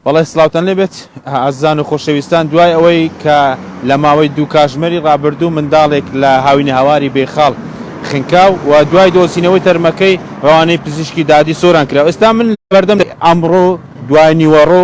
بەڵێ سلااوان لێبێت ئازان و خۆشەویستان دوای ئەوەی کە لە ماوەی دوو کاژمەری ڕابردوو منداڵێک لە هاوینە هاواری بێخاڵ خنکا و دوای دۆسینەوەی تەرمەکەی ڕوانەی پزیشکی دادی سۆران کرا ئێستا من بەردەم ئەمڕۆ دوای نیوەڕۆ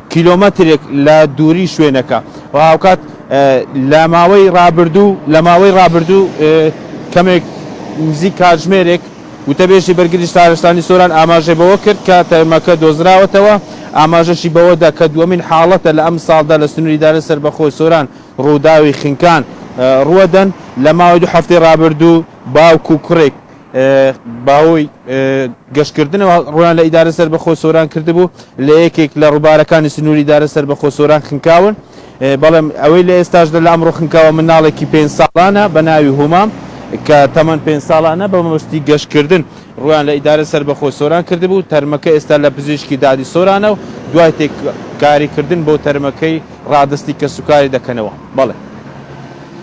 کیلۆمەترێک لە دووری شوێنەکە و هاوکات لە ماوەی ڕابردوو لە ماوەی ڕابردوو کەمێک نزیک کاتژمێرێک وتەبێژی بەرگری شارستانی سۆران ئاماژەی بەوە کرد کە تەرمەکە دۆزراوەتەوە، ئاماژەشی بەوەدا کە دووەمین حاڵەتە لە ئەمساڵدا لە سنووری ئیدارەی سەربەخۆی سۆران ڕووداوی خنکان ڕووەدەن، لە ماوەی دوو هەفتەی ڕابردوو باوک و کوڕێک. باوەی گەشتکردنەوە ڕویان لە ئیدارە سەر بەخۆ سۆران کردبوو لە یەکێک لە ڕووبارەکانی سنووری دارە سەر بەخۆ سۆران خنکاون بەڵێم ئەوەی لە ئێستاش لە لام ڕوخنکەوە مناڵێکی پێ ساڵانە بە ناوی هومام کە تەمەەن پێ ساڵانە بە مەبستی گەشتکردن ڕویان لە ئیدارە سەر بەخۆ سۆران کردبوو تەرمەکە ئێستا لە پزیشکی دادی سۆرانە و دوای تێک کاریکردن بۆ تەرمەکەی ڕادستی کە سوکاری دەکەنەوە بەڵێ